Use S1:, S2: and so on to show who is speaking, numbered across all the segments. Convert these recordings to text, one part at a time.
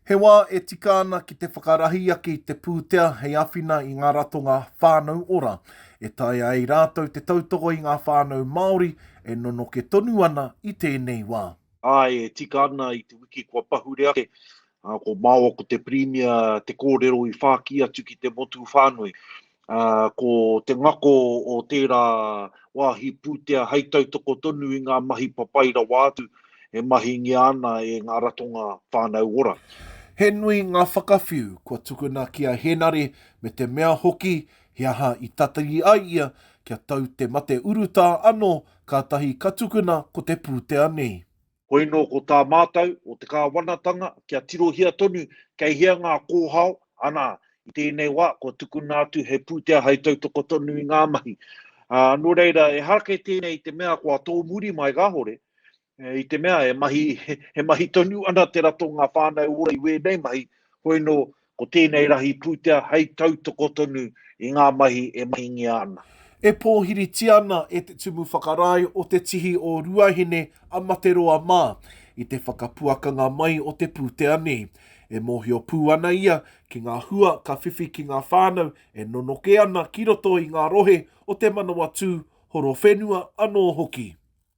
S1: He wā e tika ana ki te whakarahi ake i te pūtea hei āwhina i ngā ratonga Whānau Ora, e taea ai rātou te tautoko i ngā whānau Māori e nonoke tonu ana i tēnei wā. Āe, e tika ana i te wiki kua pahure ake Ā, ko Māua ko te Pirimia te kōrero i whākī atu ki te motu whānui. Ā, ko te ngako o tērā wāhi pūtea hei tautoko tonu i ngā mahi papai rawa atu e mahingia ana e ngā ratonga whānau ora. He nui ngā whakawhiu kua tukuna ki a Hēnare me te mea hoki he aha i tatari ai ia kia tau te mate urutā anō kātahi ka tukuna ko te pūtea nei. Hoino ko tā mātou o te Kāwanatanga kia tirohia tonu kei hea ngā kōhao, anā, i tēnei wā kua tukuna atu he pūtea hai tautoko tonu i ngā mahi. Ā, nō reira, ehara kei tēnei i te mea kua tōmuri mai kāore, i te mea he mahi tonu ana te ratonga whānau ora i wēnei mahi, hoino Ko tēnei rahi pūtea hei tautoko tonu i ngā mahi e mahingia ana. E pōhiritia ana e Te Tumu Whakarae o Te Tihi o Ruahine a Materoa mā i te whakapuakanga mai o te pūtea nei. E mōhio pū ana ia ki ngā hua ka whiwhi ki ngā whānau e nonoke ana ki roto i ngā rohe o Te Manawatū, Horowhenua anō hoki.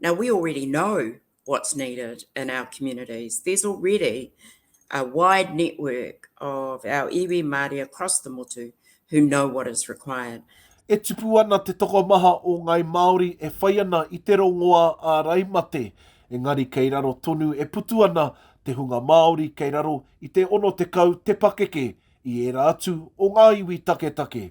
S1: Now we already know what's needed in our communities. There's already a wide network of our iwi Māori across the motu who know what is required. E tipu ana te tokomaha o Ngāi Māori e whai ana i te rongoā āraimate, engari kei raro tonu e putu ana te hunga Māori kei raro i te 60 te pakeke i ērā atu o ngā iwi taketake.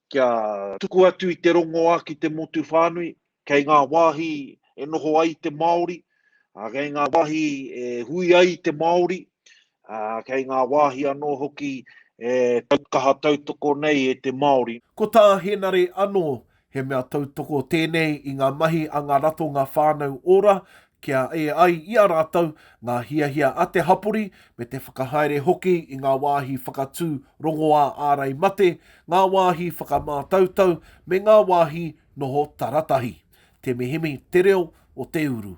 S1: Kia tuku atu i te rongoā ki te motu whānui, kei ngā wāhi e noho ai te Māori, kei ngā wāhi e hui ai te Māori, kei ngā wāhi anō hoki e kaha tautoko nei e te Māori. Ko tā Hēnare anō, he mea tautoko tēnei i ngā mahi a ngā ratonga whānau ora, kia ē ai i a rātou ngā hiahia a te hapori me te whakahaere hoki i ngā wāhi whakatū rongoā ārai mate, ngā wāhi whakamātautau me ngā wāhi noho taratahi. Temihemi te reo o te uru.